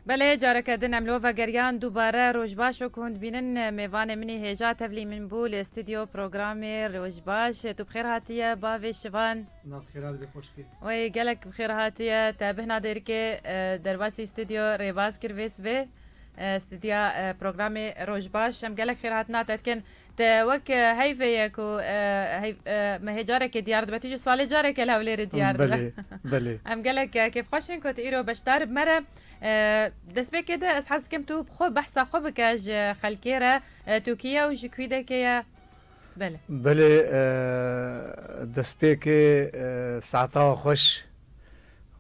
Belê careke din em lo vegeriyan dubare roj baş û kund bînin mêvanê min ê hêja tevlî min bû li stûdyo programê roj baş tu bi xêr hatiye bavê şivan Na bi xêra dibê xweşikê. Wey gelek bi xêr hatiye te bihna dêrikê derbasî stûdyo rêbaz kir vê sibê stûdya programê roj baş em gelek xêr hatina te dikin. Te wek heyvê ye ku me hê carekê diyar dibe, tu jî salê careke li Hewlêrê diyar dibe. Em gelek kêfxweş in ku tu îro beşdar bi me re. Destpêkê de ez hez dikim tu bi xwe behsa xwe bike ji xelkê re. Tu kî ye û ji kuî dekê ye? Belê. Belê destpêkê saetawa xweş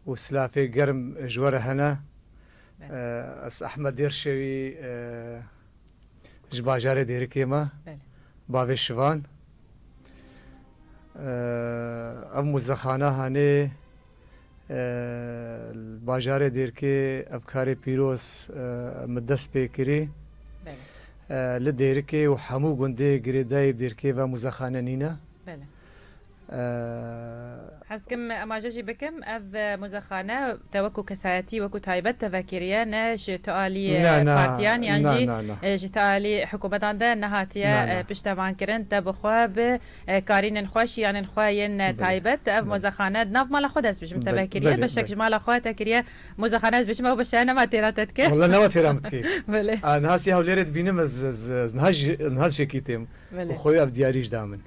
û silafê germ ji we re hene. Ez Ehmed Dêrşewî. ji bajarê Dêrikê me bavê Şivan ev muzexana hanê li bajarê Dêrkê ev karê pîroz min dest pê kirî li Dêrikê û hemû gundê girêdayî bi Dêrkê ve muzexane nîne Eee. Hez dikim em aje jî bikim. Ev muzexane te wekû kesayetî, wekû taybet te vekiriye ne ji tu alî partiyan yan jî ji tu alî hikûmetan de nehatiye piştevankirin. Te bi xwe bi karînên xwe, şiyanên xwe yên taybet ev muzexane di nav mala xwe de ez dibêjim te vekiriye. Beşek ji mala xwe te kiriye muzexane ez dibêjim ew beşe nema têra te dike. Wela nema têra min dike. Belê. Niha sê Hewlêrê dibînim ez niha ji niha dişekîtim û xwe wê ev diyarî jî da min.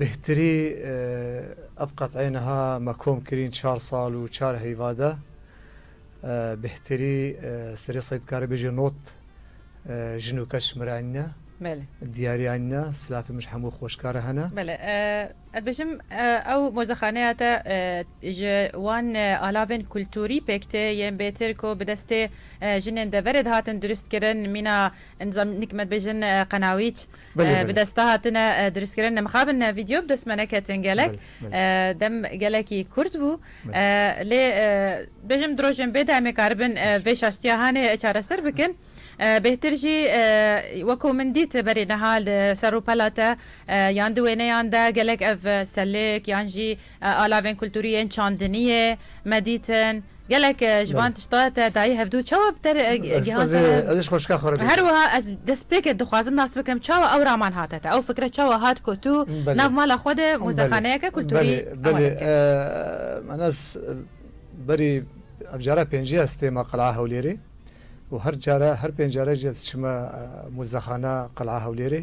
Bêhtirî ev qet'eyê niha me kom kirîn çar sal û çar heyva de. Bêhtirî serê Seîd karê bêje not jin û keç mire enîne. Belê. Diyarî enîne, silafê min ji hemû xweşkar e hene. Belê. Ez dibêjim ew mozexaneya te ji wan alavên kulturî pêk tê yên bêtir ku bi destê jinên deverê dihatin dirustkirin mîna Encam nikmet bêjin qenawîç bi desta hatine dirustkirin. Mixabin vîdyo bi dest me neketin gelek. Dem gelekî kurt bû. Lê bêjim di rojên bê de em ê karibin vê şaştiya hanê çareser bikin. Bêhtir jî weko min dît berê niha li ser rûpela te yan di wêneyan de gelek ev selêk yan jî Alavên kulturî yên çandiniyê, medîtin, gelek ji van tişta te dayî hevdû. Çawa bi te re gihan ser e? Ez ê ji xweşika xwe re bêjim. Her wiha ez destpêkê dixwazim nas bikim çawa ew raman hate te, ew fikre çawa hat ku tu nav mala xwe de muzexaneyeke kulturî ewade bike. Belê, ez berî ev cara pêncî ye ez têma Qilaa Hewlêrê û her care, her pênc care jî ez çima muzexana Qilaa Hewlêrê.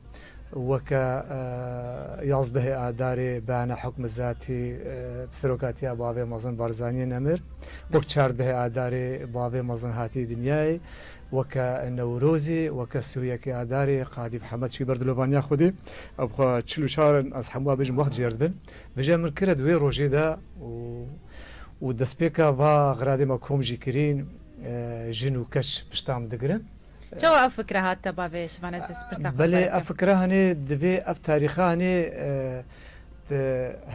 Weke yazdehê Adarê beyana hukm zatî bi serokatiya bavê mezin Barzaniyê nemir. Wek çardehê Adarê bavê mezin hatiye dinyayê. Weke Newrozê, weke sûyekê Adarê Qadî Mihemed çûye ber dilovaniya Xwedê. Ew bi xwe çil û çar in, ez hemû bêjim wext jêr dibin. Vije min kire di wê rojê de û destpêka va xiradê me kom jî kirîn, jin û keç pişta min digirin. Çawa ev fikre hat te bavê şivanê ji pirsa xwe Belê ev fikre hanê divê ev tarîxe hanê di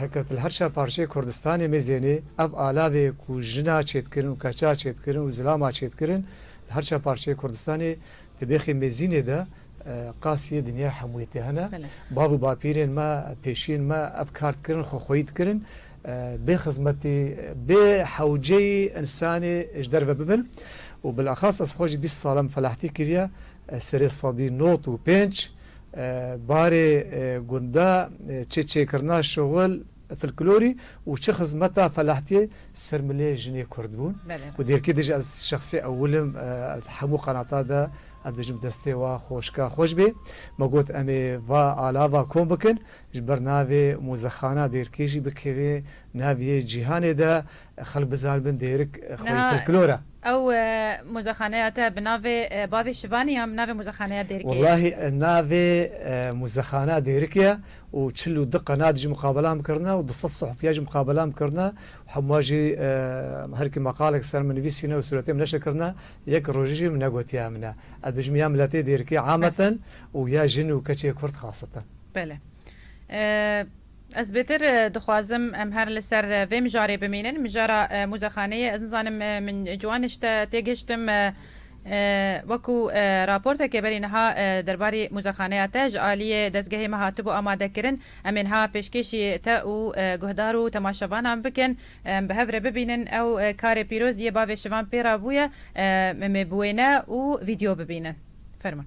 heketilherşa parçeyê Kurdistanê mêzênê ev alavê ku jina çêdkirin û keça çêdkirin û zilama çêdkirin di herşa parçeyê Kurdistanê di bêxê mêzînê de qasîyê dinyaya hemûyê tê hene. Bav û bapîrên me pêşiyên me ev kar dikirin xwexweyî dikirin. bê xizmetî, bê hewceyî însanî ji derve bibin û bilaxas ez xwe ji bîst sal em felahtî kiriye serê sedî not û pênc barê gunda çi çêkirina şuxul filklorî û çi xizmeta felahtiyê ser milê jinê kurd bûn û dêrkî dij ez şexsî ewil im di hemû qenata de em dijim destê wa xweşka xweş bê me got emê va alava kom bikin Ji ber navê mozexana dêrkê jî bikeve nav yê cîhanê de xelk bizanibin dêrik xweyî folklor e. Ew mozexaneya te bi navê bavê şivanê yan bi navê mozexaneya dêrkê ye? Wellahî navê mozexana dêrikê ye û çil û du qenat jî muqabelam kirine û du sed sihfiya jî muqabelam kirine û hemûa jî herkî meqalek ser min nivîsîne û sûretê min neşir kirine. Yek rojê jî min negotiye min e. Ez dibêjim ya miletê dêrkê ameten û ya jin û keçê kurd xaseten. Bele. Ez bêtir dixwazim em her li ser vê mijarê bimînin. Mijara muzexaneyê ez nizanim min ciwan ji te têgihiştim wekû raportekê berî niha derbarî muzexaneya te ji aliyê dezgehê me hatibû amadekirin. Em ê niha pêşkêşî te û guhdar û temaşevanan bikin em bi hev re bibînin ew karê pîroz yê bavê şivan pê re bûye. Em ê bi wêne û vîdyo bibînin. Fermûn.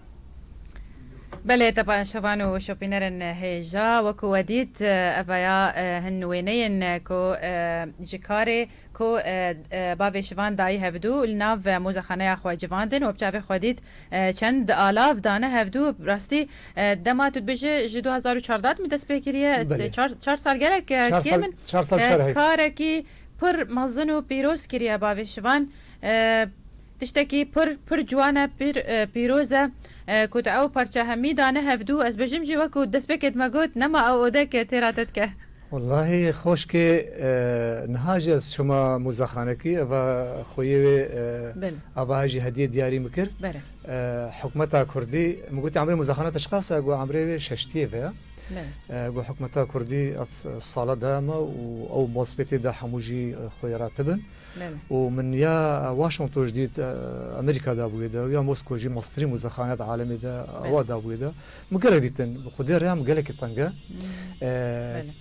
Belê tepa enşevan û şopînerên hêja wekû we dît evaya hin wêneyên ku ji karê ku bavê şivan dayî hevdû li nav mozexaneya xwe civandin we bi çavê xwe dît çend alav dane hevdû bi rastî dema tu dibêje ji du hezar û çardeh dimî dest pê kiriye çar sal gelek kêm in karekî pir mezin û pîroz kiriye bavê şivan. Tiştekî pir pir ciwan e, pir pîroz e ku te ew parça hemî dane hevdu. Ez bijîm jî wek ku destpêkê dima got, nema ew ode ke tê ra te dike. Wellahî xoşkê niha jî ez çûma mûzexanekî eva xoyê wê ava hejî hediyê diyarî min kir. Hikûmeta kurdî min gotî emrê mûzexana te çiqas e? Got emrê wê şeştiyê ve ye. Got hikûmeta kurdî ev sala dayama û ew maspêtê da hemû jî xoyê ra tibin. û min ya Washington jî dît Amerîka dabûye de û ya Moskow jî masterî muzexaneya di alemê de awa dabûye de min gelek dîtin bi xwedê rêya min gelekî teng e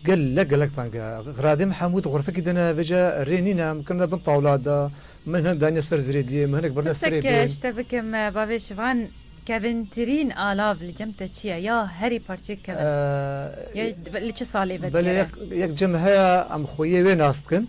gelek gelek teng e giradê min hemû di xurfekî de ne vêca rê nîn e min kirine bin tawla de min hinek daniye ser zirêdiyê min hinek birine serê diyê. Pirsek ji te bikim bavê şivan kevintirîn alav li cem te çi ye ya herî parçeyek kevin ye li çi salê vedigerê? Belê yek cem heye em xwe yê wê nas dikin.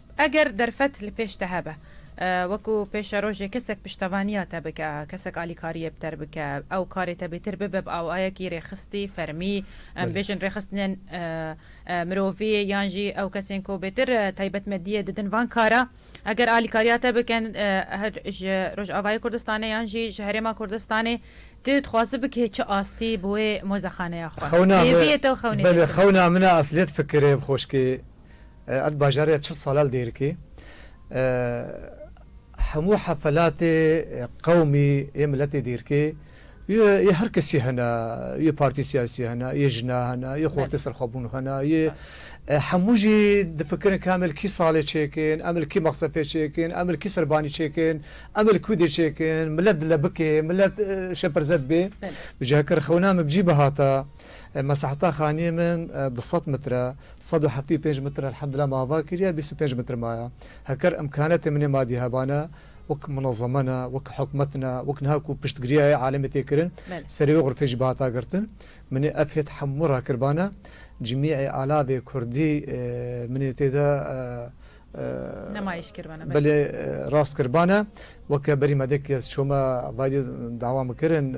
Eger derfet li pêş te hebe, wekû pêşerojê kesek piştevaniya te bike, kesek alîkariyê bi te re bike, ew karê te bêtir bibe bi awayekî rêxistî, fermî, em bêjin rêxistinên mirovî yan jî ew kesên ku bêtir taybetmediyê didin van kara, eger alîkariya te bikin her ji Rojavayê Kurdistanê yan jî ji Herêma Kurdistanê, tu dixwazi bikê çi astî bi wê mozexaneya xwe, hêviyê te û xewnê te çi be? Belê xewna min e, esliyet fikirê bi xoşkê Ez bajarê ya çil sale li Dêrikê hemû hefelatê qewmî yê miletê Dêrikê yê her kesî hene yê partî siyasî hene yê jina hene yê xortê serxwebûn hene yê hemû jî difikirin ke em li kî salê çêkin em li kî mexsefê çêkin em li kî serbanî çêkin em li kûdê çêkin milet dile bikê milet şepirzet bê ji heker xewna min bi cî bihata Mesehta xaniyê min du sed mitr e. Sed û heftê û pênc mitr elhemdulillah ma ava kiriye, bîst û pênc mitr maye. Heker imkanetên min ê madî heba ne, wek munezeme ne, wek hikûmet ne, wek niha ku piştgiriya yê alemê tê kirin, serê wê xurfê jî bihata girtin. Min ê ev hêt hemû ra kirbane. Cimî'ê alavê kurdî min ê tê de. Nemayiş kirbane, belê. Belê rast kirbane. Weke berî me dek kes çome vayîdê dawa min kirin.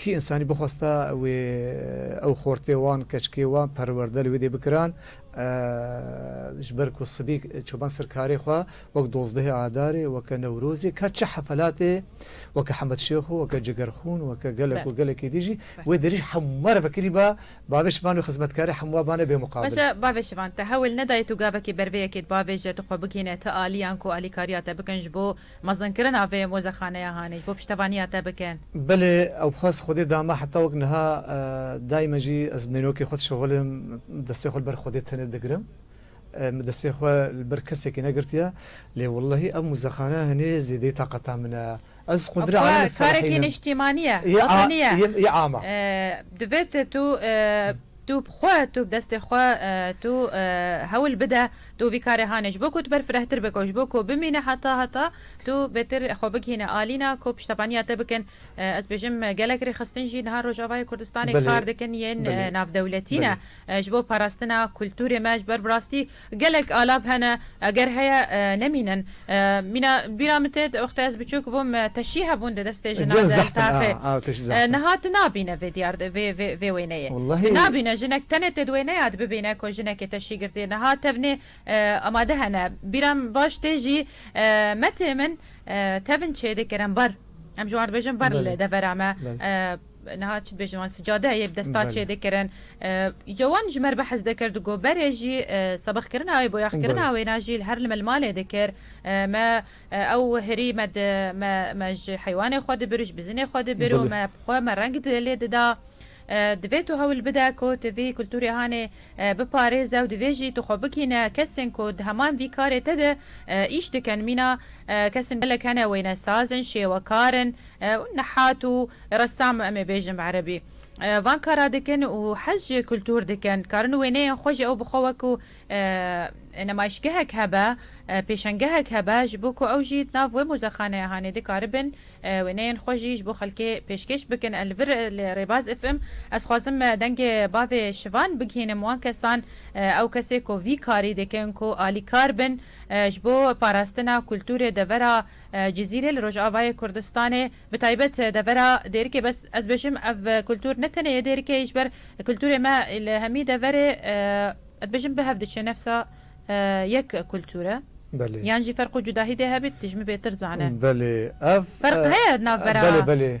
Kî însanî bixwesta wê ew xortê wan, keçikê wan perwerde li wê dê bikiran ji ber ku sibî çoban ser karê xwe wek dozdehê adarê, weke newrozê ka çi hefelatê weke Hemed Şêxo, weke Cigerxûn, weke gelek û gelekî din jî wê derî ji hemû re vekirî ba bavê şivan û xizmetkarê hemû wan bane bêmuqabil. Baş e bavê şivan te hewil nedayê tu gavekî ber vê yekê di bavê je tu xwe bigihîne ti aliyan ku alîkariya te bikin ji bo Mezinkirina vê mozexaneya hanê ji bo piştevaniya te bikin. Belê ew bi xwe ez Xwedê dame heta wek niha daîme jî ez mînokê xwe dişewilim destê xwe li ber Xwedê tenê digirim min destê xwe li ber kesekî negirtiye lê wellehî ev muzexaneya hanê zêdeyî taqeta min e ez qundirê aleme diserexînim. Xwe karekî niştîmanî ye, ava nîye. Yê ava. Divêt tu. Tu bi xwe, tu bi destê xwe, tu hewl bide, tu vî karê hanê ji bo ku tu ber firehtir be ku ji bo ku bimîne heta heta tu bêtir xwe bigihîne alîna ku piştevaniya te bikin. Ez dibêjim gelek rêxistin jî niha Rojavayê Kurdistanê kar dikin yên navdewletî ne ji bo parastina kulturê me ji ber bi rastî Gelek alav hene, eger heye nemînin. Mîna bîra min tê di wextê ez biçûk bûm teşî hebûn di destê jina del taxê. Niha tu nabîne vê diyar vê wêneyê. Tu nabîne jinek tenê tê di wêneya de bibîne ku jinekê teşî girtiye. Niha tevnê amade hene. Bîra min baş tê jî me tê min tevn çêdikir em bar. Em ji wan dibêjin bar li devera me. Niha çi dibêjin wan sicade ye bi destan Belê. çêdikirin. Îca wan ji me re behs dikir di got berê jî sebixkirina wê, boyaxkirina wê na jî li her li me li malê dikir. Me ew hirî me di me me ji heywanê xwe dibir û ji bizinê xwe dibir û Belê. me bi xwe me reng di lê dida. Divê tu hewl bide ku tu vî kulturê hanê biparêze û divê jî tu xwe bikîne kesên ku di heman vî karê te de îş dikin. Mîna kesin gelek hene wênesaz in, şêwekar in. Nehat û ressam em ê bêjin bi erebî. Van kara dikin û hez ji kultûr dikin. Dikarin wêneyên xwe ji ew bi xwe wek ku nemayîşgehek hebe, pêşengehek hebe ji bo ku ew jî di nav wê mozexaneya hanê dikaribin wêneyên xwe jî ji bo xelkê pêşkêş bikin. Li vir li Rêbaz FM ez xwazim dengê bavê Şivan bigihînim wan kesan. Ew kesê ku vî karî dikin ku alîkar bin ji bo parastina kultûrê devera Cizîrê li Rojavayê Kurdistanê bi taybet devera Dêrikê bes ez bêjim ev kultur ne tenê yê Dêrikê yê ji ber kulturê me li hemî deverê ez dibêjim bi hev diçe nefsa yek kultur e yan jî ferq û cudahî dê hebît dijmi bêtir zane. Belê ev. Ferq heye navbera. Belê belê.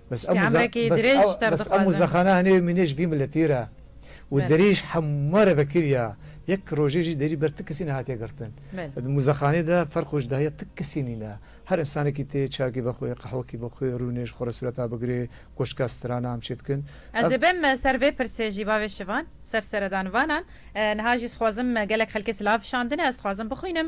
Spî emrekî dirêj ji te re dixwazin. Bes Amuza xana hinê mîne ji vî miletî re û derî ji hema re vekir ya. Yek rojê jî derî ber ti kesî nehatiye girtin. Di muzexanê de ferq û cudahiya ti kesî nîne. Her insanekî tê çayekî be xwe, qehwekî be xwe, rûnê ji xwe re sureta bigirê, koşka strana em çê dikin. Ez ê bim ser vê pirsê jî bavê şivan, ser seredanvanan. Niha jî dixwazim gelek xelkê silav şandine, ez dixwazim bixwînim.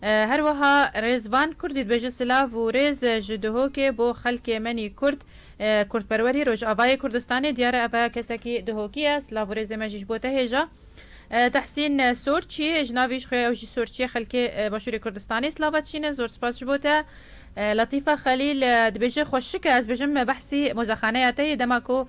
Her wiha Rêzvan Kurdî dibêje silav û rêz ji Duhokê bo xelkê menî Kurd, Kurdperwerî Rojavayê Kurdistanê diyar e ev e kesekî Duhokî ye, silav û rêzê me jî ji bo te hêja. Tehsîn Sorçî ji navî ji xwe ye ew jî Sorçî ye xelkê Başûrê Kurdistanê silav e çîn e zor spas ji bo te. Latîfa Xelîl dibêje xweşik e ez bêjim behsî mozexaneya te yê dema ku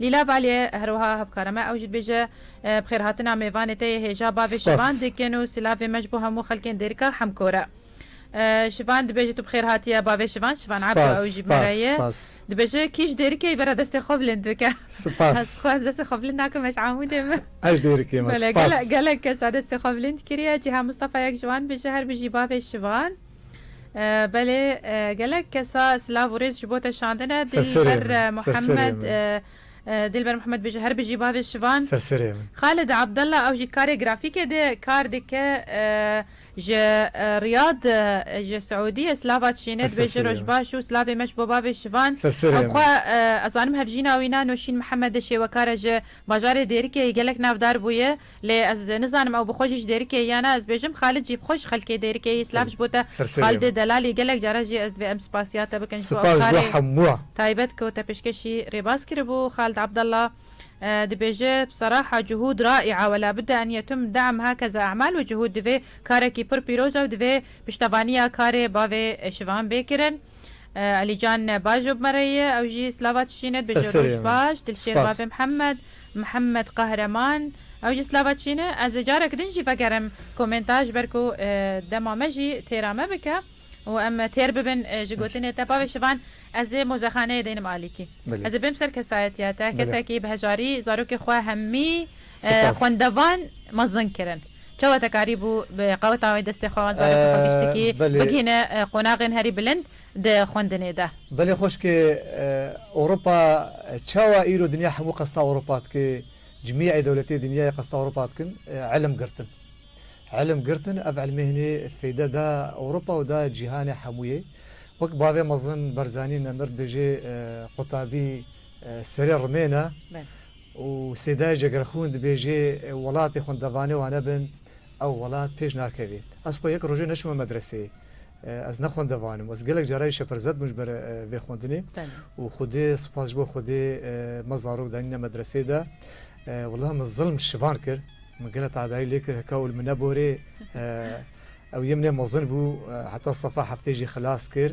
Lîla Valye herwiha hevkara me ew jî dibêje, Bi xêrhatina mêvanê te yê hêja bavê şivan dikin û silavê me ji bo hemû xelkên dêrika Hemkor e. Şivan dibêje tu bi xêr hatiye bavê şivan, Şivan Ebdo ew jî bi me re ye. Dibêje kî ji dêrikê bera destê xwe bilind bike. Ez xwe ez destê xwe bilind nakim ez ji Amûdê me. Ez ji dêrikê me. Gelek gelek kes a destê xwe bilind kiriye. Cîhan Mistafayek ji wan dibêje her bijî bavê şivan. Belê gelek kesa silav û rêz ji bo te şandine. Dilber Muhammed Dilber Muhammed bêje her bijî bavê şivan. Xalid Abdallah ew jî karê grafîkê dê kar dike ji Riyad ji Siûdiyê silava çînê dibêje roj baş û silavê me ji bo bavê şivan. Ew xwe ez zanim hevjîna wî ne Nûşîn Muhammed e şêwekar e ji bajarê Dêrikê gelek navdar bûye. Lê ez nizanim ew bi xwe jî ji Dêrikê ye na ez bêjim Xalid jî bi xwe ji xelkê Dêrikê yî silav ji bo te Xalidê Delalî gelek caran jî ez divê em spasiya te bikin ji bo ew karê taybet ku te pêşkêşî rêbaz kiribû Xalid Abdalla dibêje bsaraha cuhûd raîa wela bide en yetum deam hakeza emal û cuhûd divê karekî pir pîroz ew divê piştevaniya karê bavê şivan bê kirin. Elîcan baş job me re ye ew jî slava çişîn e dibêje roj baş dilşêr bavê Mihemed Mihemed Qahreman ew jî slava çişîn e ez ê carek din jî vegerim komenta ji ber ku dema me jî têra me bike û em têr bibin ji gotinê te bavê şivan ez ê mozexaneyê deynim alîkî ez ê bêm ser kesayetiya te kesekî bi hejarî zarokê xwe hemî Spas. Xwendevan mezin kirin. Çawa te karî bû bi qeweta wê destê xwe wan zarokê xwe giştikî bigihîne qonaxên herî bilind di xwendinê de? Belê xweşkê Ewropa çawa îro dinya hemû qesta Ewropa dike cimîeyê dewletê dinyayê qesta Ewropa dikin ilim girtin. Ilim girtin ev ilmê hinê feyde da Ewropa û da cîhanê hemûyê. Wek bavê mezin Berzanî Nemir dibêje qutabî serê rimêne. Û Sêdayê Cegerxwûn dibêjê welatê xwendevanê wane bin ew welat pêş nakevê. Ez xwe yek rojê neçûme medreseyê. Ez ne xwendevan im. Ez gelek cara jî şepirzet bûm ji ber vê xwendinê. Û Xwedê spas ji bo Xwedê me zarok danîne medreseyê de. Wela min zilm şivan kir. Min gelek tehdayî lê kir hika ûl min neborê. Ew yê min ê mezin bû. Heta sefa heftê jî xilas kir.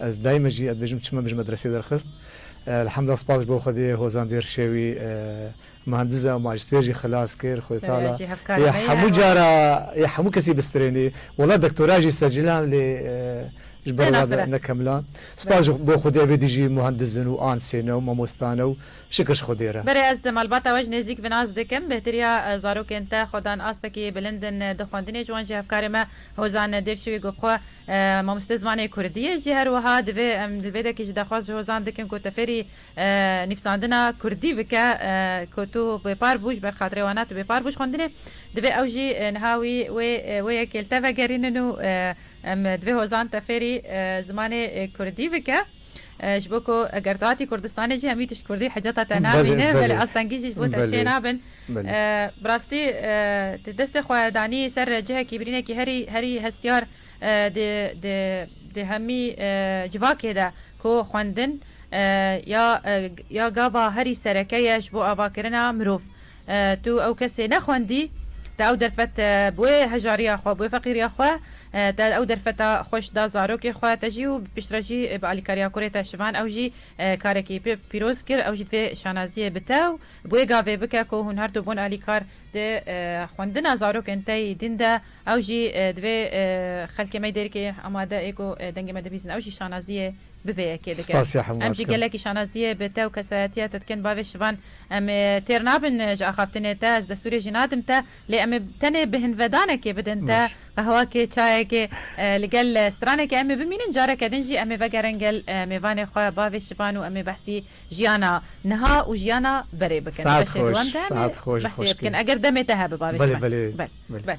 Ez daîme jî ez dibêjim çima me ji medresê derxist. Elhemdullah spas ji bo Xwedê Hozan Dêr Şewî muhendis e û majistêr jî xilas kir. Xwedê Teala yê hemû cara yê hemû kesî bistrênî. Wela doktora jî sercilan lê ji ber wa nekemla. Spas ji bo Xwedê evê dî jî muhendis in û ansê ne û mamosta ne û şikir ji Xwedê re. Berê ez malbata we ji nêzîk bi nas dikim. Bêhtirîya zarokên te xwedan astekî bilind in di xwendinê ji wan jî hevkarê me Hozan Dêrşewî got xwe Mamoste zimanê kurdî ye jî her wiha divê em li vê dekê jî daxwaz ji hozan dikin ku te fêrî nivîsandina kurdî bike ku tu bêpar bû ji ber xatirê wan e tu bêpar bû ji xwendinê divê ew jî niha wî wê wê yekê li te vegerînin û em divê hozan te fêrî zimanê kurdî bike. Ji bo ku eger tu hatî Kurdistanê jî hemî tişt kurdî hicata te namîne belê astengî jî ji bo te çênabin. Bi rastî tu destê xwe danî ser cihekî birînekî herî herî hestiyar di di di hemî civakê de ku xwendin ya ya gava herî sereke ye ji bo avakirina mirov. Tu ew kesê nexwendî, te ew derfet bi wê hejariya xwe, bi wê feqîriya xwe, te ew derfeta xweş da zarokê xwe, te jî û piştre jî bi alîkariya kurê te şivan, ew jî karekî pê pîroz kir, ew jî divê şanaziyê bi te û bi wê gavê bike ku hûn her du bûn alîkar. Di xwendina zarokên te yê din de ew jî divê xelkê me dêrikê amade ê ku dengê me dibîzin, ew jî şanaziyê bi vê yekê dike. Em jî gelekî şanaziyê bi te û kesayetiya te dikin bavê şivan. Em ê têr nabin ji axaftinê te, ez destûrê jî nadim te, lê em ê tenê bihinvedanekê bidin te, Baş. qehwakê, çayekê, li gel stranekê em ê bimînin, careke din jî em ê vegerin gel mêvanê xwe, bavê Şivan û em ê behsî jiyana niha û jiyana berê bikin. Di Saet beşê xweş, dewam de em ê saet xweş, behsê wê xoşkê. bikin eger demê te hebe bavê Belê, Şivan. belê, Bel. belê. Bel.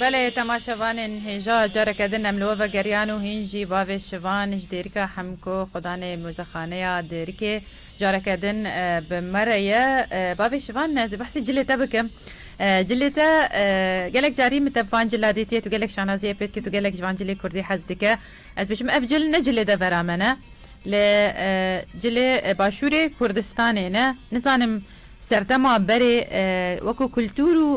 Belê temaşevanên hêja careke din em li we vegeriyan û hîn jî bavê şivan ji dêrika Hemko Xudanê Mozexaneya Dêrikê careke din bi me re ye. Bavê şivan ez ê behsê cilê te bikim. Cilê te gelek carî min te bi van cila dîtiye tu gelek şanaziyê pê dikî tu gelek ji van cilê kurdî hez dike. Ez dibêjim ev cil ne cilê devera me ne, li cilê başûrê Kurdistanê ne. Nizanim serdema berê wekû kultûr û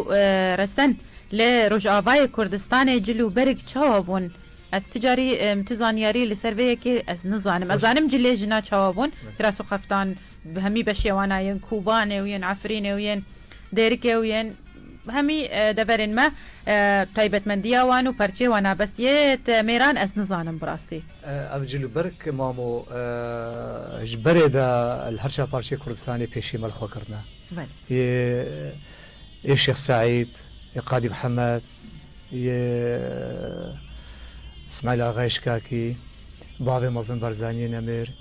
resen li Rojavayê Kurdistanê cil û berik çawa bûn? Ez ti carî min tu zanyarî li ser vê yekê ez nizanim. Ez zanim cilê jina çawa bûn, kiras û xeftan bi hemî beşê wan a yên Kûbanê û yên Efrînê û yên Dêrikê û yên Hemî deverên me taybetmendiya wan û perçê wan a bes yê te mêran ez nizanim bi rastî. Ev cilûberg mamo ji berê de li her çar parçeyê Kurdistanê pêşî me li xwe kirine. Yê yê Şêx Seîd, yê Qadî Mihemed, yê Îsmaîl Axa Îşkakî, bavê Mezlûm Barzaniyê Nemir,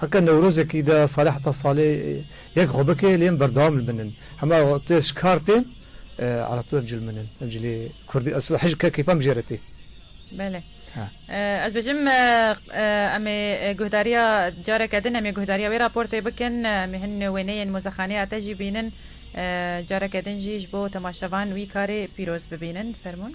Heke Newrozekî de salê heta salê yek xwe bike lê em berdewam li bin in. Hema tu ez ji kar têm ala tu ev cil min in. Ev cilê kurdî ez hej ke keyfan bijêr e tê. Belê. Ez bêjim em ê guhdariya careke din em ê guhdariya wê raportê bikin. Em ê hin wêneyên mozexaneya te jî bînin. Careke din jî ji bo temaşevan wî karê pîroz bibînin. Fermûn.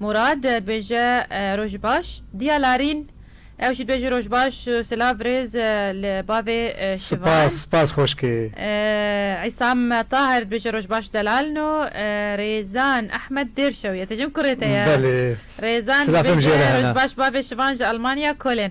Murad dibêje Roj baş diya larîn. Ew jî dibêje Roj baş silav rêz li bavê şivan. Spas spas xoşkê. Îsam Taher dibêje Roj baş delal no. Rêzan Ehmed dêr şew ye. Tejim kurê te ye. Belê. Rêzan dibêje Roj baş bavê şivan ji Almanya kolên.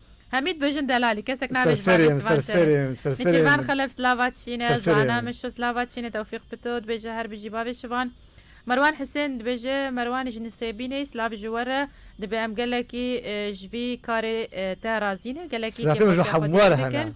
Hemî dibêjin delalî kesek nabêjin bavê Serseri Sivan Tero. serseri serseri Nêçîrvan Xelef slava çîn e, Serseri Zwana min. Mişo slava çîn e, Tewfîq Pito dibêje her bijî bavê Şivan. Merwan Husên dibêje Merwan ji Nisêbînê slav ji we re dibe em gelekî ji vî karê te razî ne, gelekî Silafê min ji kêfxweşiya xwe hemû dî re hene. dikin.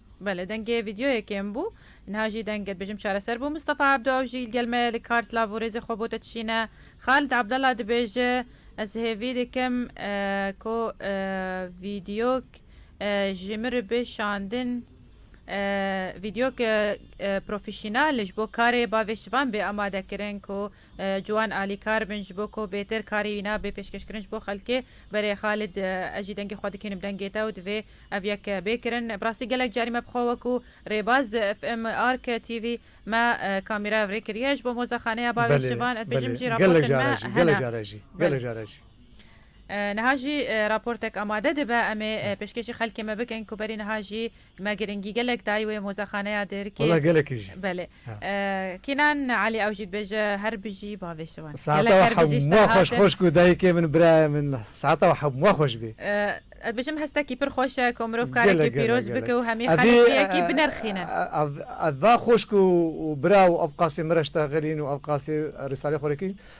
Belê dengê vîdyoyê kêm bû. Niha jî deng dibêjim çareser bû. Mistefa Ebdo ew jî li gel me ye li kar silav û rêzê xwe bo te dişîne. Xalid Abdallah dibêje, Ez hêvî dikim ku vîdyok ji min re bê şandin. Vîdyok profesyonal ji bo karê bavê şivan bê amadekirin ku Ciwan alîkar bin ji bo ku bêtir karî wî nabe pêşkêşkirin ji bo xelkê. Berê Xalid ez jî dengê xwe dikênim dengê te û divê ev yek bê kirin. Bi rastî gelek carî me bi xwe wek û rêbaz FM Ark TV me kamîra ev rê kiriye. Ji bo mozexaneya bavê Şivan ez dibêjim jî raportên me hene. Belê. Niha jî raportek amade dibe em ê pêşkêşî xelkê me bikin ku berî niha jî Me giringî gelek dayî wê mozexaneya Dêrikê. Wela gelekî jî. Belê. Kînan Elî ew jî dibêje her bijî bavê şivan. Saeta we hemûa xweş xweş ku dayikê min birayê min saeta we hemûa xweş bê. Ez dibêjim hestekî pir xweş e ku mirov karekî pîroz bike û hemî xelek yekî binirxînin. Ev va xweş ku bira û ev qasê min re ji te xelîn û ev qasê Rîsalê xwe re kîn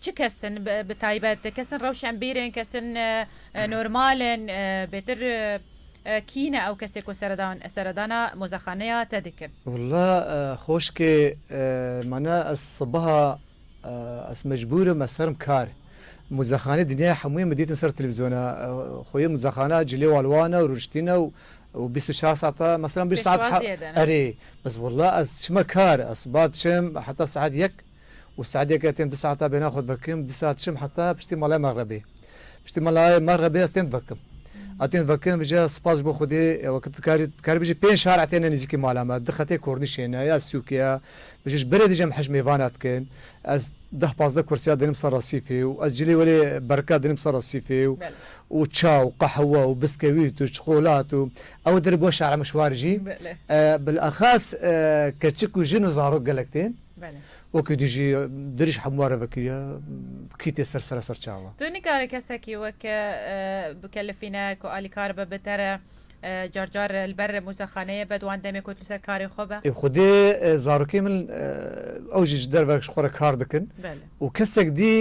Çi kes in bi taybet? Kes in rewşenbîr in, kes in normal in, bêtir kî ne ew kesê ku seredana mozexaneya te dikin? Walla xoşkê mana ez sibeha ez mecbûr im ez herim kar. Mozexaneyê dinyaya hemûyê min dîtin ser televîzyona xwe yê mozexana cilê wan wan e û rûniştîn e û bîst û çar saet e meselan bîst saet erê. Bes walla ez çima kar ez sibeha diçim heta saet yek Û saedeke tên du saeta bêhna xwe divekim, dîsa diçim heta piştî malaya mexrebê. Piştî malayê mexrebê ez tên divekim. A tên divekim vije spas ji bo Xwedê weke tu dikarî dikarî bijî pênc şar'a têne nêzîkî mala me. Du xetê kornîşê ne ya sûkê ye. Vije ji berê dijem hej mêvana dikin. Ez deh pazdeh kursîya dinim ser resîfê û ez cilê welê berika dinim ser resîfê û û ça û qehwe û biskewît û çikolat û ew dir bo şar'a me şwarî jî. Bilaxas keçik û jin û zarok gelek tên. Wekî tu jî dirij hemû re vekiriye kî tê ser sere ser çawa. Tu nikare kesekî wek bikelifîne ku alî kar be bi te re car car li ber mûzexaneyê be di wan demê ku tu li ser karê xwe be. Ê xwedê zarokên min ew jî ji derve ji xwe re kar dikin û kesek dî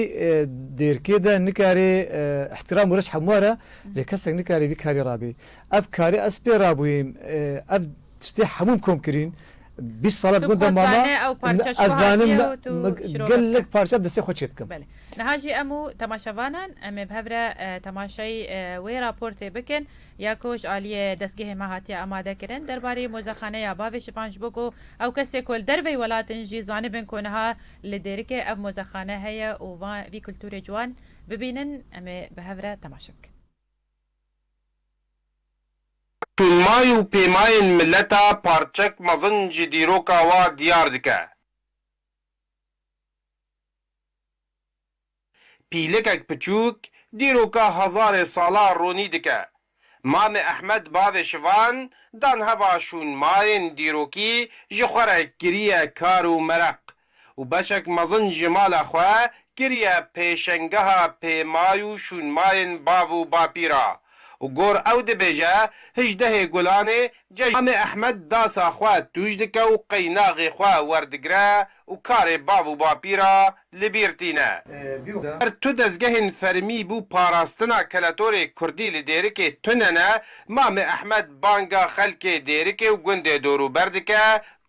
di êrkê de nikarê îhtîram û reş hemû re lê kesek nikarê vî karî rabî. Ev karî ez pê rabûyîm ev Tiştê hemû em kom kirîn. Bîst sala di gunda mama. Ez zanim gelek parça bi destê xwe çê dikim. Niha jî em û temaşevanan em ê bi hev re temaşayî wê raportê bikin ya ku ji aliyê destgehê me hatiye amadekirin derbarê mozexaneya bavê şivan ji bo ku ew kesê ku li derveyî welat in jî zanibin ku niha li Dêrikê ev mozexane heye û vî kulturê ciwan bibînin em ê bi hev re temaşe bikin. Tunmay û pêmayên mileta parçek mezin ji dîroka wa diyar dike. Pîlikek piçûk dîroka hezarê sala ronî dike. Mame Ehmed bavê şivan dan heva şûnmayên dîrokî ji xwe re kiriye kar û mereq û beşek mezin ji mala xwe kiriye pêşengeha pêmay û şûnmayên bav û bapî re û gor ew dibêje Hijdehê Gulanê cejn Amê Ehmed dasa xwe tûj dike û qeynaxê xwe werdigire û karê bav û bapî re li bîr tîne. Her tu dezgehên fermî bû parastina keletorê kurdî li Dêrikê tune ne, Mame Ehmed banga xelkê Dêrikê û gundê dorûber dike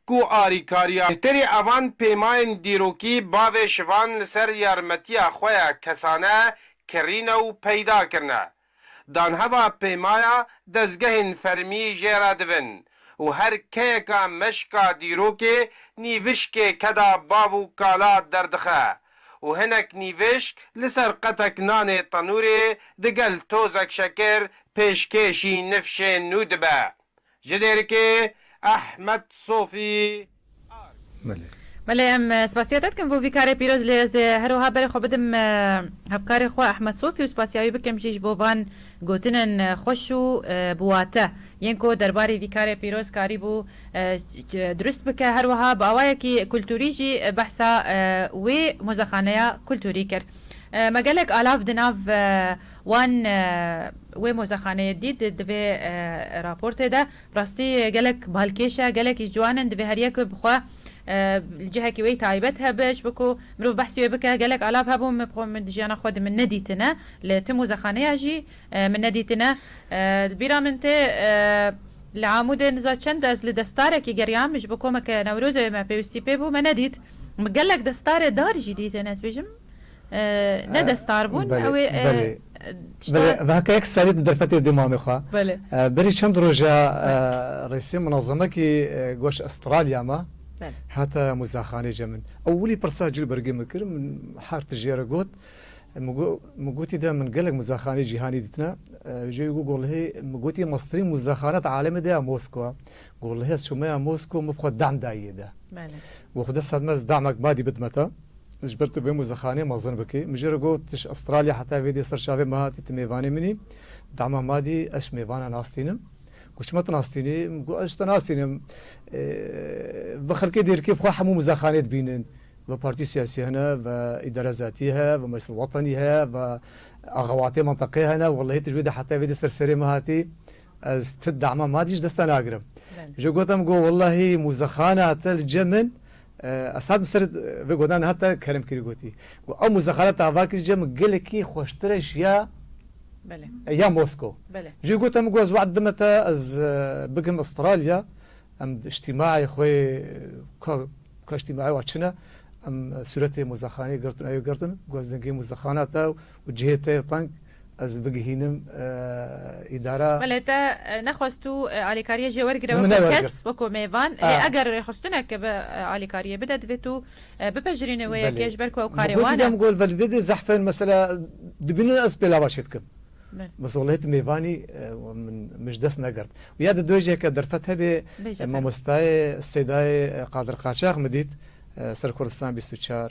Ku arîkariya bêhterî evan pêmayên dîrokî bavê şivan li ser yarmetiya xwe ya kesane kirîne û peyda kirine. Danheva pêmaya dezgehên fermî jê re dibin û her keyeka meşka dîrokê nîvişkê keda bav û kala derdixe û hinek nîvişk li ser qetek nanê tenûrê digel tozek şekir pêşkêşî nifşên nû dibe. Ji derikê Ehmed Sofî Ark. Belê. Belê em spasiya te dikim bo vî karê pîroz lê ez ê her wiha berê xwe bidim hevkarê xwe Ehmed Sofî û spasiya wî bikim jî ji bo van gotinên xweş û bi wate yên ku derbarî vî karê pîroz karîbû dirust bike her wiha bi awayekî kulturî jî behsa wê mozexaneya kulturî kir me gelek alav di nav Wan wê mozexaneyê dît di vê raportê de. Bi rastî gelek balkêş e, gelek jî ciwan in. Divê her yek bi xwe li cihekî wê taybet hebe ji bo ku mirov behsî wê bike. Gelek alav hebûn min bi xwe di jiyana xwe de min nedîtine, li ti mozexaneya jî min nedîtine. Li bîra min tê li Amûdê niza çend ez li destarekî geriyam ji bo komeke Newrozê me pêwistî pê bû me nedît. Min gelek destarê dar jî dîtin ez bêjim. Ne destar bûn ew ê tişta. Belê heke yek serî di derfetê dê mamê xwe. Belê. Berî çend roj e rêsê munazemekî goş Astralya me hate muzexanê ce min ewilî pirsa cil bergê min kir min her ti jê re got min gotî de min gelek muzexanê cîhanî dîtine jê wî got golhê min gotî meztirîn muzexane di alemê de ya Moskwa Goh li hêz çûmeya Mosko min bi xwe dehm dayî yê de. Goh xwe dest hidme ez dehmek badî bidme te. Ji ber tu bê muzexanê mezin bikî. Min jê re got tu ji Astralya heta vê dê ser çavê min hatî tu mêvanê min î. Dehma madî ez ji mêvanan astînim. Goh çima tu nastînî? Min got ez ji te nastînim. Ve xelkê dêrkê bi xwe hemû muzexanê dibînin. Ve partî siyasî hene, ve îdare zatî heye, ve meclisa wetenî heye, ve axewatê menteqê hene. Wellehî tu ji wê de heta vê dê ser serê min hatî. Ez ti dema ma dî ji dest te nagirim. Ji gotim got wellahî mûzexana te li cem in ez hat min ser vê godan hat te kerem kirî gotî. Got ew mûzexana te ava kirî cem in gelekî xweştir e ji ya ya Mosko. Jê gotim got ez wext dime te ez bigim Astralya em îjtîmaê xwe ka ka îjtîmaê wan çin e em sûretê mûzexanê girtin ew yê girtin got ez dengê mûzexana te Û cihê te yê teng ez bigihînim îdara. Belê te nexwest tu alîkariyê jê wergire weko kes, weko mêvan. Lê eger rêxistineke bi alîkariyê bide divê tu bipejirînî wê yekê ji ber ku ew karê wan e. Gol velê dê dê zehfên mesela dibînin ez pêlava çê dikim. Bes walahi tu mêvanî min ji dest negirt. Û ya di dojeke derfet hebê mamostayê Sêdayê Qadir Qaçax min dît Ser Kurdistan bîst û çar.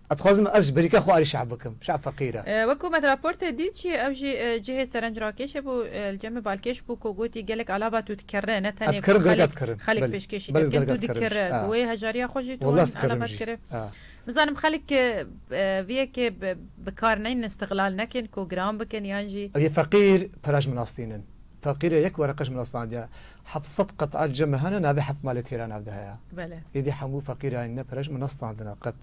Ez dixwazim ez ji berîka xwe alî şe'b bikim. Şe'b feqîr e. Wek ku me di raportê dît jî ew jî cihê serencrakêş e bû. Li cemê balkêş bû ku gotî gelek alaba tu dikirine. Ne tenê ku xelek xelek pêşkêşî dikin. Tu dikiri. Bi wê hejariya xwe jî tu wan alaba dikiri. Nizanim xelek vê yekê bi kar neynin, îstiglal nekin ku giran bikin yan jî. Ew yê feqîr pera ji min astînin. Taqîrê yek wereqe ji min astandiye. Heft sed qet'a cem hene navê heft malê têra nav de heye. Bele. Êdî hemû feqîrayên me pere ji min astandine. Qet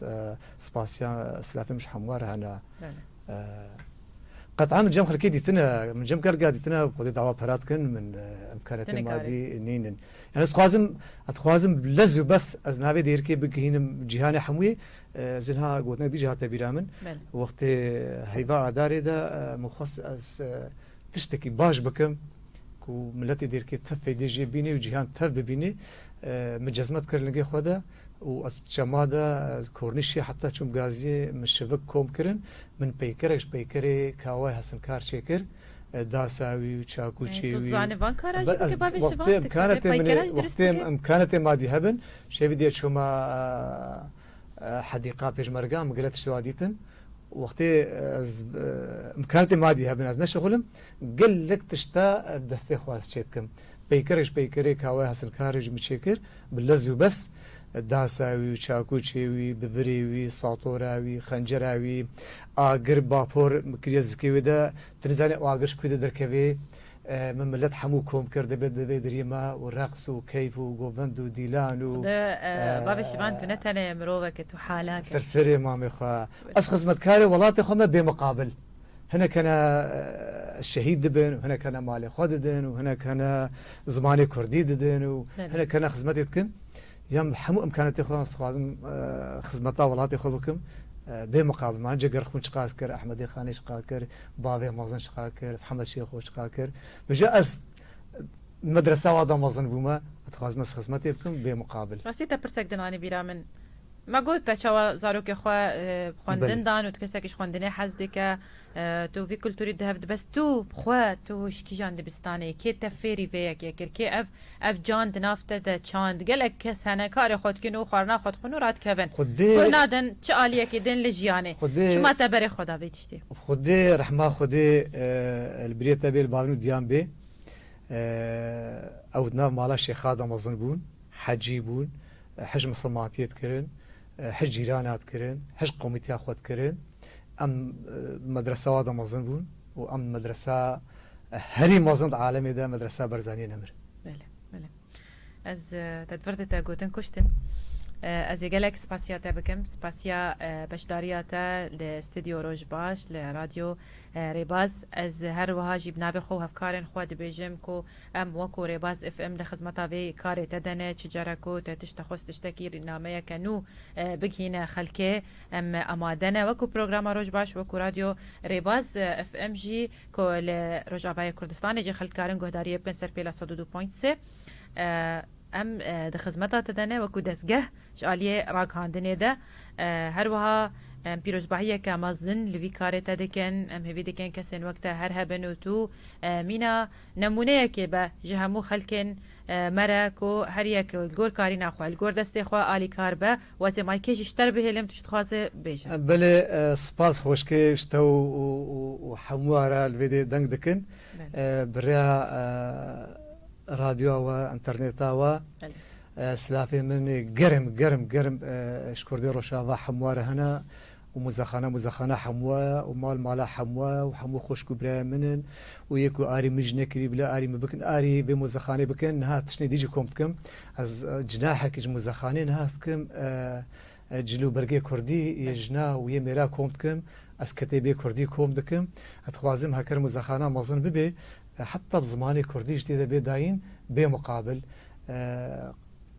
spasiya silafê min ji hemû re hene. Qet'a min cem xelkê dîtine. Min cem gelga dîtine ku xwedê dawa pera dikin. Min imkaniyetên madî nîn in. Yan ez dixwazim ez dixwazim lez û bes ez navê dêrikê bigihînim cîhanê hemûyê. Ez ê niha gotinek dî jî hate bîra min. Wextê heyva adarê de min xwest ez Tiştekî baş bikim ku miletê dêrkê tev peydê jê bînê û cîhan tev bibînê. Min cezmet kir lingê xwe de û ez çema de li kornîşê heta çûm gaziyê min şivik kom kirin. Min peykerek ji peykerê kawayê hesinkar çêkir. Dasa wî û çakûçê wî. Tu dizanî van kara jî bike bavê şivan dike. Peykeran jî dirust bike. Wextê em kanetê madî hebin şevî dê çûma. Hedîqa Pêşmerge em gile tiştê wa dîtin. Wextê ez imkanatê madî hebin ez neşixulim gelek tişta bi destê xwe ez çêdikim. Peykerek ji peykerê kawe hesilkarê ji min çêkir bi lez û bes dasa wî û çakûçê wî, bivirê wî, satora wî, xencera wî, agir, bapor kiriye zikê wê de. Ti nizanî agir ji ku de derkevê. Min milet hemû kom kir divê di vê diriyê me û reqs û keyf û govend û dîlan û. Xweda bavê şivan tu ne tenê mirovek î tu halak î. Ser serê mamê xwe. Ez xizmetkarê welatê xwe me bêmiqabil. Hinek hene şehîd dibin û hinek hene malê xwe didin û hinek hene zimanê kurdî didin û hinek hene xizmetê dikin. Yan bi hemû imkanetê xwe dixwazim xizmeta welatê xwe bikim bê miqabl. Mane cê gerxûn çiqa ez kir, Ehmedê Xanê çiqa kir, bavê mezin çiqa kir, Hemed Şêxo çiqa kir. Mijû ez di medresawa de mezin bûme, dixwazim ez xizmetê bikim bê miqabl. Rastî te pirsek din anî bîra min. Me got te çawa zarokê xwe xwendin dan û tu kesekî ji xwendinê hez dike. Tu vî kulturî di hev dibe st tu xwe tu ji kîjan dibistanê kê te fêrî vê yekê kir kê ev ev can di nav te de çand gelek kes hene karê xwe dikin û xwarina xwe dixwin û radikevin guh nadin çi aliyekê din li jiyanê çima te berê xwe da vê tiştê. Xwedê rehma xwedê li birê te bê li bavin û diyan bê ew di nav mala şêxa damezin bûn hecî bûn hej misilmantiyê dikirin Hişt cîran hat kirin, hişt komîteya xwe dikirin. Em medresewa de mezin bûn û em medresa herî mezin di alemê de medresa Berzaniyê Nemir. Belê, belê. Ez te vir de te gotin kuştin. Ez ê gelek spasiya te bikim. Spasiya beşdariya te li Stüdyo Roj Baş li Radyo Rêbaz. Ez her wiha jî bi navê xwe û hevkarên xwe dibêjim ku Em weko Rêbaz FM di xizmeta vê karê te de ne, çi care ku te tişt dixwest tiştekî nameyeke nû bigihîne xelkê em amade ne. Weko programa Roj Baş, weko Radyo Rêbaz FM jî ku li Rojavayê Kurdistanê jî xelk dikarin guhdariyê bikin ser pêla sed û du ponc sê em di xizmeta te de ne, weko dezgeh ji aliyê ragihandinê de. Her wiha em pîrozbahiyeke mezin li vî karê te dikin. Em hêvî dikin kesên wek te her hebin û tu mîna. Nemûneyekê be ji hemû xelkên me re ku her yek li gor karîna xwe, li gor destê xwe alîkar be. Wezê ma kê jî ji te re bihêlim, tu çi dixwazî bêje. Belê spas xweşkê ji te û hemûyan re li vê dê deng dikin. Bi rêya radyoya we, înternêta we silavên min ê germ germ germ ji Kurdên Rojava hemûyan re hene. û muzexana muzexana hemwa ye û mal mala hemwa ye û hemû xoşk û birayên min in û yê ku arî min jî nekirî bila arî min bikin arî vê muzexanê bikin niha tiştê dî jî kom dikim ez cinahekî ji muzexanê niha ez dikim cil û bergê kurdî yê jina û yê mêra kom dikim ez ketê bê kurdî kom dikim ez dixwazim heker muzexana mezin bibê heta bi zimanê kurdî ji tê de bê dayîn bê muqabil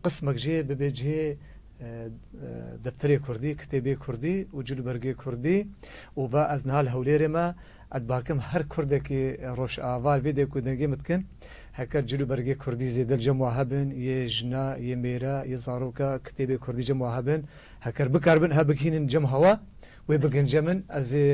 Qismek jî bibe cihê defterê kurdî, kitêbê kurdî û cilûbergê kurdî û va ez niha li Hewlêrê me, ez dibakim her kurdekî Rojava vê dêk û dengê min dikin, heker cilûbergê kurdî zêde li cem we hebin, yê jina, yê mêra, yê zaroka, kitêbê kurdî cem we hebin, heker bikar bin ev bigihînin cem hewa, wê bigince min, ez ê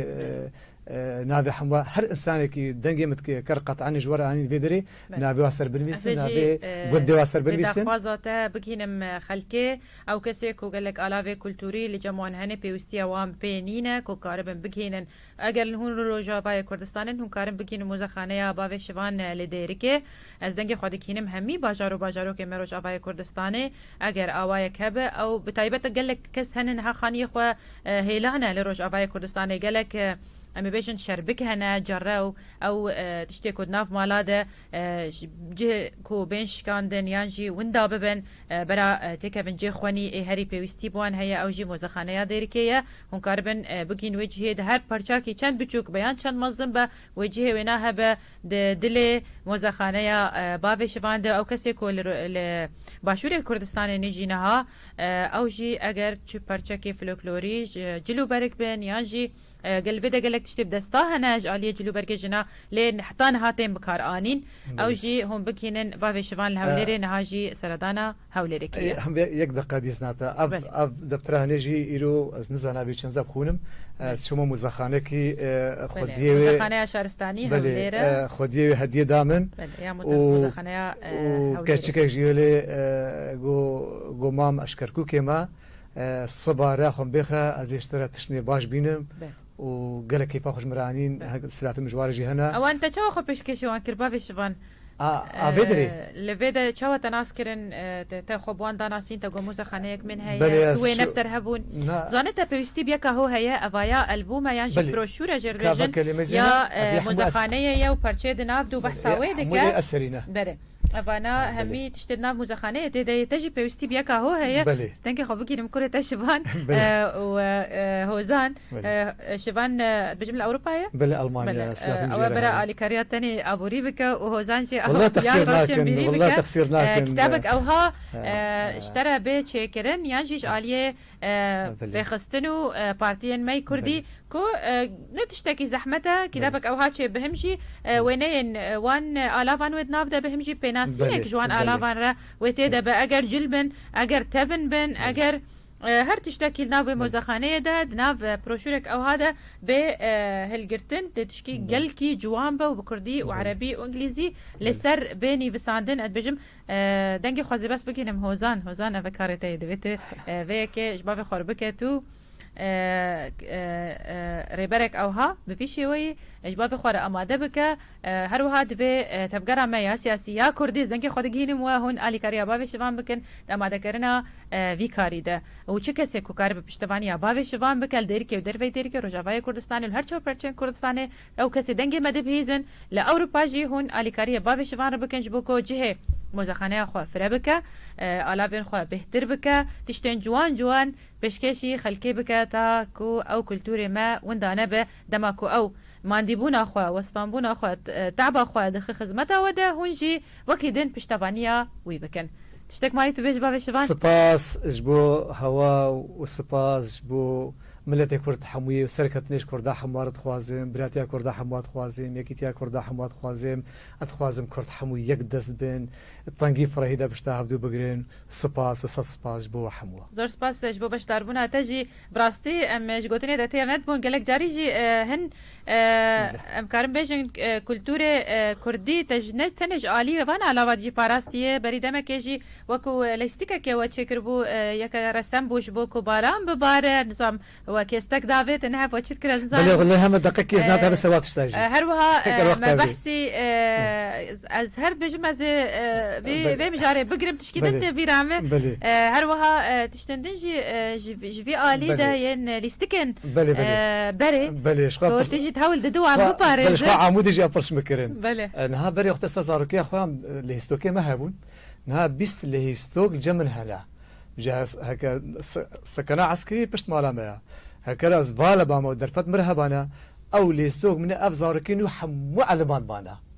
navê hemû her însanekî dengê min dike, ker qetanî ji we re anîn vê derê, Navê wan ser binivîsin, navê gundê wan ser binivîsin. Ez ê jî daxwaza te bigihînim xelkê, ew kesên ku gelek alavê kulturî li cem wan hene pêwîstiya wan pê nîne ku karibin bigihînin. Eger hûn li Rojavayê Kurdistanê in, hûn karin bigihînin mozexaneya bavê şivan li Dêrikê. Ez dengê xwe digihînim hemî bajar û bajarokên me Rojavayê Kurdistanê. Eger awayek hebe ew bi taybet gelek kes hene niha xaniyê xwe hêlane li Rojavayê Kurdistanê. Gelek em ê bêjin şerbik hene, carew, Ew tiştê ku di nav mala de ji cih ku bên şikandin yan jî winda bibin bera têkevin cê xwenî ê herî pêwîstî bi wan heye ew jî mozexaneya Dêrikê ye. Hûn karibin bigihîn wê cihê di her parçakî çend biçûk be yan çend mezin be wê cihê wêna hebe di dilê mozexaneya bavê şivan de ew kesê ku li başûrê Kurdistanê nêjî niha ew jî eger çi parçekê floklorî ji cil û berik bin yan jî Gel li vê de gelek tiştê bi desta hene ji aliyê cil û bergê jina lê heta niha tên bikar anîn. Ew jî hûn bigihînin bavê şivan li Hewlêrê niha jî seredana Hewlêrê kiriye. Yek deqa dîs nate. Ev ev deftera hene jî îro ez nizana vê çend zeb xwînim. Ez çûma muzexanekî xwediyê wê. Muzexaneya Şaristanî Hewlêr e. Xwediyê wê hediyê da min. Belê ya muzexaneya Hewlêrê. Û keçikek jî wê lê got mam ez ji Kerkûkê me. Siba re xwe bêxe ez ê ji te re tiştine baş bînim û gelek keyfa xwe ji min re anîn. Silafê min ji we re jî hene. Wan te çawa xwe pêşkêşê wan kir bavê şivan? A vê derê? Li vê de çawa te nas kirin? Te xwe bi wan da nasîn? Te got mozexaneyek min heye, tu wê ne bi te re hebûn. Zanê te pêwîstî bi yeka ho heye, ev aya elbûme yan jî broşûre jê re dê jin ya mozexaneyê ye û parçeyê di nav de û behsa wê dike. Hemû lê ez serî ne. Berê. Vana hemî tiştê di nav muzexaneyê tê de yê te jî pêwistî bi yeka ho heye ez dengê xwe bigîrim kurê te şivan û hozan şivan dibêjim li Ewropa ye belê Elmanya ew ê bera alîkariya tenê aborî bike û hozan jî ya rewşenbîrî bike kitabek ewha ji te re bê çêkirin yan jî ji aliyê rêxistin û partiyên me yê kurdî ku ne tiştekî zehmet e, kîtabek ewha çê bihimjî, wêneyên wan alavan wê di nav de bihimjî, pênasînek ji wan alavan re wê tê de be, eger cil bin, eger tevin bin, eger her tiştekî li nav wê mozexaneyê de, di nav proşûrek ewha de bê hilgirtin, dê tiştî gelkî ciwan be û bi kurdî û erebî û îngilîzî li ser bê nîvisandin, ez dibêjim Dengê xwe zêbes bigihînim Hozan, Hozan ev e karê te yê divê tu vê yekê ji bavê xwe re bike tu rêberek ewha bi vî şêweyî ji bavê xwe re amade bike her wiha divê tevgera me ya siyasî ya kurdî ez dengê xwe digihînim we hûn alîkariya bavê şivan bikin di amadekerina vî karî de û çi kesê ku karibe piştevaniya bavê şivan bike li Dêrikê û derveyî Dêrikê Rojavayê Kurdistanê û li her çar perçeyên Kurdistanê Ew kesê dengê me dibihîzin, li Ewropa jî hûn alîkariyê bavê şivan re bikin ji bo ku cihê mozexaneya xwe fire bike, alavên xwe bêhtir bike, tiştên ciwan ciwan pêşkêşî xelkê bike ta ku ew kulturê me winda nebe, dema ku ew mandîbûna xwe, westanbûna xwe, te'ba xwe dixe xizmeta we de hûn jî wekî din piştevaniya wî bikin. Tiştek mayî tu bê ji bavê şivan? Spas ji bo hewa û spas ji bo. Miletê Kurd hemû ye, serketinê ji Kurda hemû a re dixwazim, biratiya Kurda hemû a dixwazim, yekîtiya Kurda hemû a dixwazim, ez dixwazim Kurd hemû yek dest bin, tengî firehî de pişta hevdû bigirin, spas û sed spas ji bo we hemû a. Zor spas ji bo beşdarbûna te jî. Bi rastî em ji gotinê de têr nedibûn, gelek carî jî hin Em karin bêjin kulturê kurdî tenê ji aliyê van a lava cî parastiye. Berî demekê jî wek û lejstikekê we çêkiribû yek resem bû ji bo ku baran bibare nizam we kêstek davê te nehev we çi dikire nizanî. Belê li heme deqe kês nade hebe sewat tişta jî. Her wiha me behsî ez her dibêjim ez ê vê mijarê bigirim tişkî din tê vîra me her wiha Tiştên din jî ji vî alî de yên lîstikên berê ku tu jî hewl didî wan biparêzin. Ji xwe Amûdê jî em pirs mikirin. Niha berê wexta sar zarokiya xwe em lêhîstokê me hebûn. Niha bîst lêhîstok cem min hene. Ji heke sekana eskirî pişt mala me ye. Heke ra zvala ba me û derfet min re hebane ew lêhîstok min e ev zarokî nû hemû eliman mane.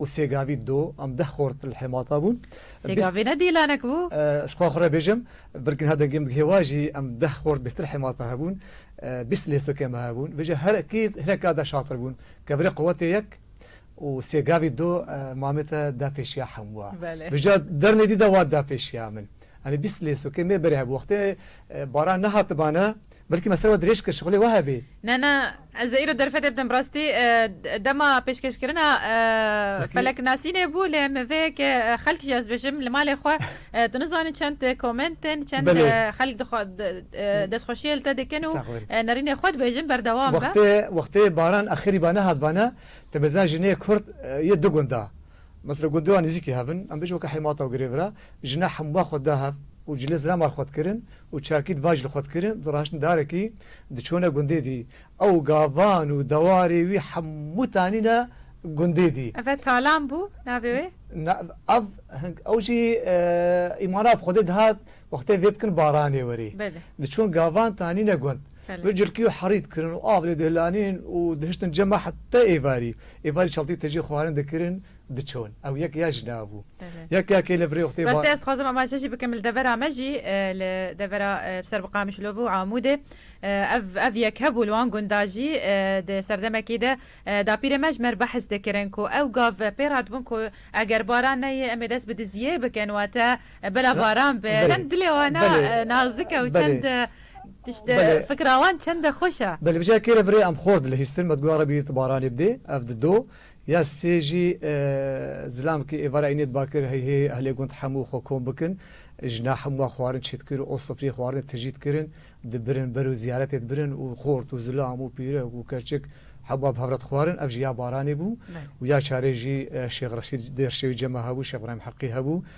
û sê gavî do an deh xort li hêmata bûn. Sê gavî ne dîlanek bû? Ji xwe xwe re bêjim, vir niha dengê min digihê wa jî em deh xort bêhtir hêmata hebûn. Bîst lêstokên me hebûn. Vê jî her ekî hinek ka de şatir bûn. Kevirê quwetê yek û sê gavî do mamê te da pêşiya hemû wan. Vê jî dernê dî de wat da pêşiya min. Anî bîst lêstokên mêberê hebû. Wextê baran nehatibane. Belkî me ser we dirêj kir şixulê we hebê. Ne ne ez ê îro derfetê bidim rastî dema pêşkêşkirina feleknasînê bû lê min vê yekê xelk jî ez bêjim li malê xwe tu nizanî çend komentên çend xelk dixwa destxweşiyê li te dikin û nerînê xwe dibêjin berdewam be. Wextê wextê baran axirî ba nehat bana te bêza jinê kurd yê du gunda. Mesela gundê wan nêzîkî hev in, em bêjin weke hêmata girêv re, jina hemûa xwe dida hev û cilê zirema li xwe dikirin û çakî di van jî li xwe dikirin, di raştin darekî diçûne gundê dî. Ew gavan û dewarê wî hemû tanîne gundê dî. Ev talan bû navê wê? Na, ev, hing, ew jî îmana bi xwedê dihat, Wextê vê bikin baranê werê. Diçûn gavan tanîne gund. Vir cilkî û herî dikirin û av lê dihilanînin û dihiştin cem a heta êvarî. Êvarî çaltî tejî xwarin dikirin diçûn. Ew yek ya jina bû. Yek ya kê li virê wextê. Rastî ez dixwazim amaje jî bikim li devera me jî li devera bi ser bi Qamişlov û Amûdê ev ev yek hebû li wan gunda jî di serdemekî de dapîrê me ji me re behs dikirin ku ew gav pê re hatibûn ku eger baran neyê em ê dest bi diziyê bikin wate Bela baran be çend dilê wan a nazik e û çend tişt e, fikra wan çend e xweş e. Belê vije kêre virê em xort dilihîstin me diguya Rebî tu baranê bidê ev di do ya sê jî zilam ki êvara înê diba kir hey hê ehlê gund hemû xwe kom bikin jina hemûa xwarin çê dikir o sifrî xwarinê tijî dikirin dibirin bero zîyaretê dibirin û xort û zilam û pîrek û keçik hemûa bi hevre dixwarin ev jî ya baranê bû û ya çarê jî Şêx Reşîd Dêrşewî cema hebû Şêx Îbrahîm Heqî hebû.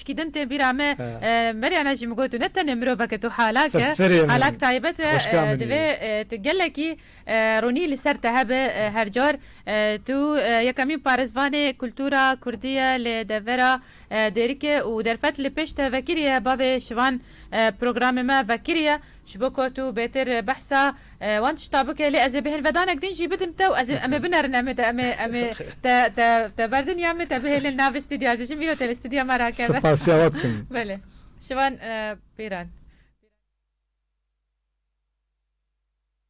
Çikî din tên bîra me Meryana jî min got tu ne tenê mirovek e tu halak e, halak taybet e divê tu gelekî ronî li ser te hebe her car tu yekemîn parêzvanê kultura kurdî ye lê devera dêrike û derfet li pêş te vekirî ye bavê şivan programê me vekirî ye Ji bo ku tu bêtir behsa wan tişta bike lê ez ê bi hinvedanek din jî bidim te û ez ê em ê binerin em ê te em ê em ê te te te berdin ya em ê te bihêlin li navê stûdyoya ez ê jin vîro te li stûdyoya me rakeve. Spasiya we dikim. Belê. Şivan Pîran.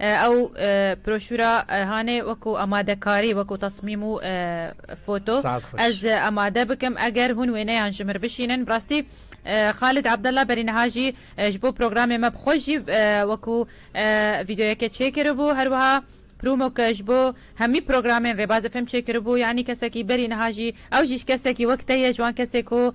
Ew proşura hane weko amadekarî, weko tasmîm û foto. Ez amade bikim eger hûn wêneyan ji mir bişînin. Bi rastî Xalid Abdallah berî niha jî ji bo programê me bi xwe jî weko vîdeoyeke çêkiribû. Her wiha promok ji bo hemî programên Rêbazê Fêm çêkiribû. Yanî kesekî berî niha jî ew jî ji kesekî wek te ye, ji wan kesê ku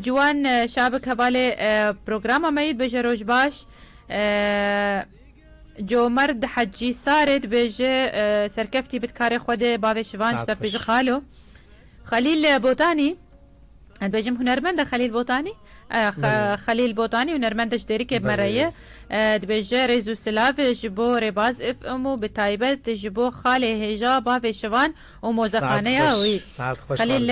Ciwan Şabik Hevalê programa me yî dibêje Roj baş. Comerd Hecî Sarê dibêje Serkeftî bit karê xwe dê bavê şivan ji te bikê ji xalo. Xelîl Botanî dibêjim hunermend e Xelîl Botanî Xelîl Botanî hunermend e ji Dêrikê bi me re ye. Dibêje rêz û silav ji bo Rêbaz Ifm û bi taybet ji bo xalê hêja bavê şivan. û mozexaneya wî. Xelîl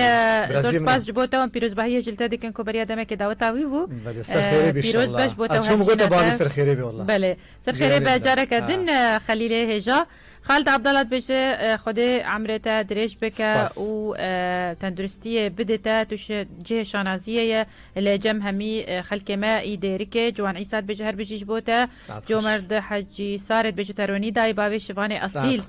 zor spas ji bo te û em pîrozbahiyê ji li te dikin ku beriya demekê daweta wî bû. Pîroz be ji bo te û hevjîna te. Belê ser xêrê be careke din Xelîlê hêja. Xalid Abdala dibêje Xwedê emrê te dirêj bike û tenduristiyê bide te, tu ji cihê şanaziyê ye li cem hemî xelkê me î dêrikê. Ciwan Îsa dibêje her bijî ji bo te. Comerd Hecî Sarê dibêje te ronî dayê bavê şivanê esîl.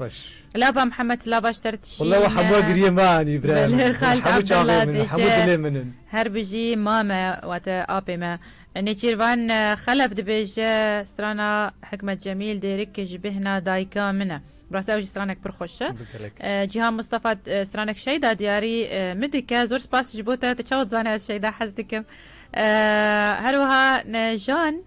Lava Mihemed lava ji te re tişîne. Walla we hemûa giriyê me anî birayê min. Belê xalk Abdullah tije. Hemû çavên min in, hemû dilê min in. Her bijî mame wate apê me. Nêçîrvan Xelef dibêje strana Hikmet Cemîl Dêrik ji bêhna dayika min e. Bi rastî ew jî stranek pir xweş e. Cîhan Mistefa stranek Şeyda diyarî min dike. Zor spas ji bo te. Tu çawa dizanî ez Şeyda hez dikim. Herwiha Nejan.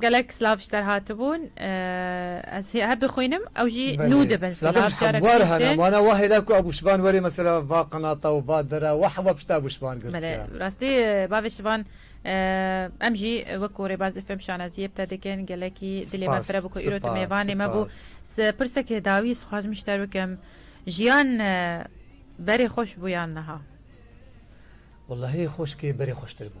Gelek silav ji derhatibûn ez her dixwînim ew jî nû dibin. Silavên ji hevwar hene wana wa hêla ku Ebû Şivan werê mesela va qinata û va dera wa hewa pişta Ebû Şivan girtiya. Belê bi rastî bavê Şivan em jî wekû rêbazê fêm şanaziyê bi te dikin gelekî dilê me fire bû ku îro tu mêvanê me bû. Pirseke dawî ez dixwazim ji te bikim jiyan berê xweş bû yan niha? Wellahî xoşikê berê xweştir bû.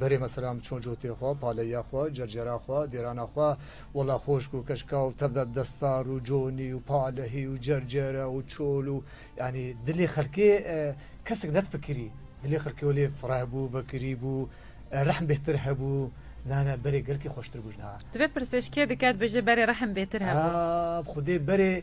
Berê me selam çon cotê xwe, paleya xwe, cercera xwe, dêrana xwe. Wela xoşk û keşka û tevde destar û conî û palehî û cercere û çol û yanî dilê xelkê kesek nedpikirî. Dilê xelkê welê fireh bû, vekirî bû, rehm bêhtir hebû. Na na berê gelkî xoştir bû ji niha. Divê pirsêj kê dike dibêje berê rehm bêhtir hebû? Xwedê berê.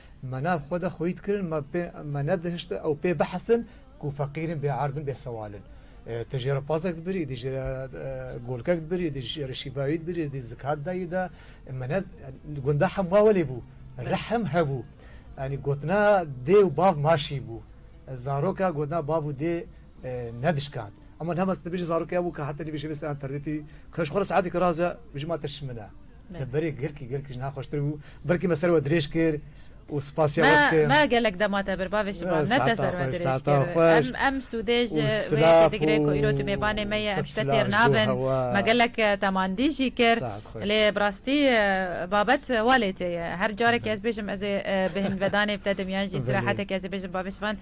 Me nav xwe de xwît kirin, me pê me nedihişt ew pê bihesin ku feqîr in, bêerd in, bêsewal in. Tu jê re pazek dibirî, tu jê re golkek dibirî, tu jê re şîvayî dibirî, tu zikat dayî de. Me ne di gunda hemwa welê bû. Rehm hebû. Yanî gotina dê û bav maşî bû. Zaroka gotina bav û dê ne dişkand. Ema lem ez nibêjin zarokê hebû ke heta nivîşê bistîne înternetî ke ji xwe re saetekî raz e bijî ma te şimin e. Te berê gelkî gelkî ji niha xweştir bû. Belkî me ser we dirêj kir û sipasîya we dikim. Me gelek dema te bir bavê şivan ne te ser we dirêj kir. Em sûdê ji vê yekê digirê ku îro tu mêvanê me yî em ji te têr nabin. Me gelek te mandî jî kir. Lê bi rastî babet wa lê tê ye. Her carekê ez bêjim ez ê bi hin vedanê bi te dim yan jî sîrehetekê ez ê bêjim bavê şivan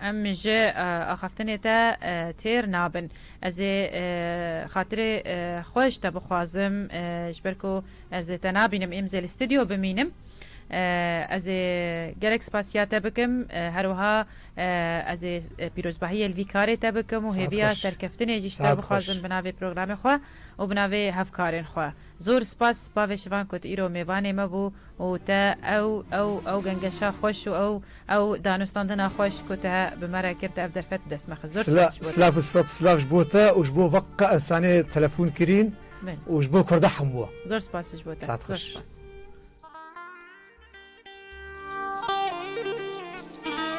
Em ji axaftinê te têr nabin. Ez ê xatirê xwe ji te bixwazim ji ber ku ez ê te nabînim êm zê li stûdyo bimînim. Ez ê gelek spasiya te bikim her wiha ez ê pîrozbahiyê li vî karê te bikim û hêviya serkeftinê jî ji te bixwazim bi navê programê xwe û bi navê hevkarên xwe. Zor spas spa vê şivan ku tu îro mêvanê me bû û te ew ew ew gengeşa xweş û ew ew danûstandina xweş ku te bi me re kir te ev derfet bi dest me xist. Zor spas ji bo te. Silav û sed silav ji bo te û ji bo vek qe insanê telefûn kirîn û ji bo kurda hemû. Zor spas ji bo te. Saet xweş.